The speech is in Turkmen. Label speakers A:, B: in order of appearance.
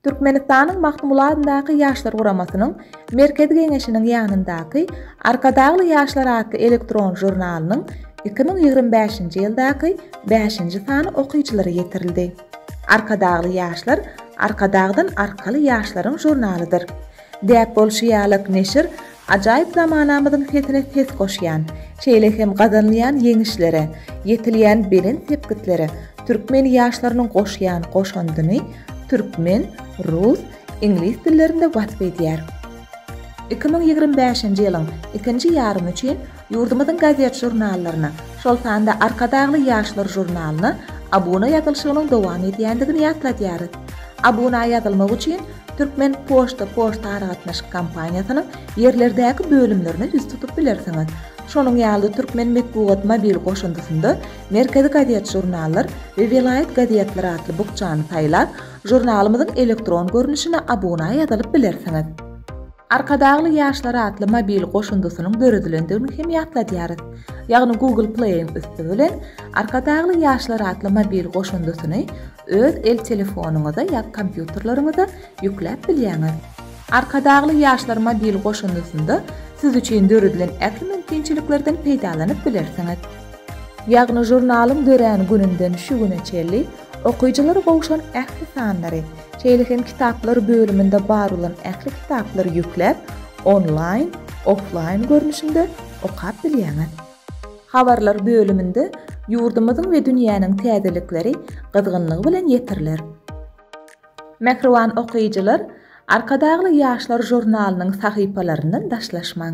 A: Türkmenistanyň Magtymguly adyndaky Ýaşlar guramasynyň Merkezi Geňeşiniň ýanyndaky Arkadagly ýaşlar atly elektron žurnalynyň iki müň ýigrimi bäşinji ýyldaky bäşinji sany okyjylara ýetirildi. Arkadagly ýaşlar Arkadagdan arkaly ýaşlaryň žurnalydyr. Däp bolşy ýalyk neşir ajaýyp zamanamyzyň sesine ses goşýan, şeýle hem gazanylýan ýeňişlere, ýetilýän belent sepgitlere türkmen ýaşlarynyň goşýan goşandyny türkmen, rus, iňlis dillerinde wasp edýär. Iki müň ýigrimi bäşinji ýylyň ikinji ýarymy üçin Ýurdumyzyň gazet-žurnallaryna, şol sanda Arkadagly ýaşlar žurnalyna abuna ýazylşygynyň dowam edýändigini ýatladýarys. Abuna ýazylmak üçin Türkmen poçta poçtaaragatnaşyk kompaniýasynyň ýerlerdäki bölümlerine ýüz tutup bilersiňiz. Şonuň ýaly Türkmen metbugat mobil goşundysynda Merkezi gazet-žurnallar we Welaýat gazetleri atly bukjany saýlap, žurnalymyzyň elektron görnüşine abuna ýazylyp bilersiňiz. Arkadagly ýaşlar atly mobil goşundysynyň döredilendigini hem ýatladýarys. Ýagny Google Play-iň üsti bilen Arkadagly ýaşlar atly mobil goşundysyny öz el telefonyňyza ýa kompýuterleriňize ýükläp bilýäňiz. Arkadagly ýaşlar mobil goşundysynda siz üçin döredilen ähli mümkinçiliklerden peýdalanyp bilersiňiz. Ýagny žurnalyň dörän gününden şu güne çenli Okyjylara gowşan ähli sanlary, şeýle hem Kitaplar bölüminde bar bolan ähli kitaplary ýükläp, onlaýn, offlaýn görnüşinde okap bilýäňiz. Habarlar bölüminde ýurdumyzyň we dünýäniň täzelikleri gyzgynlygy bilen ýetiriler. Mähriban okyjylar, Arkadagly ýaşlar žurnalynyň sahypalaryndan daşlaşmaň!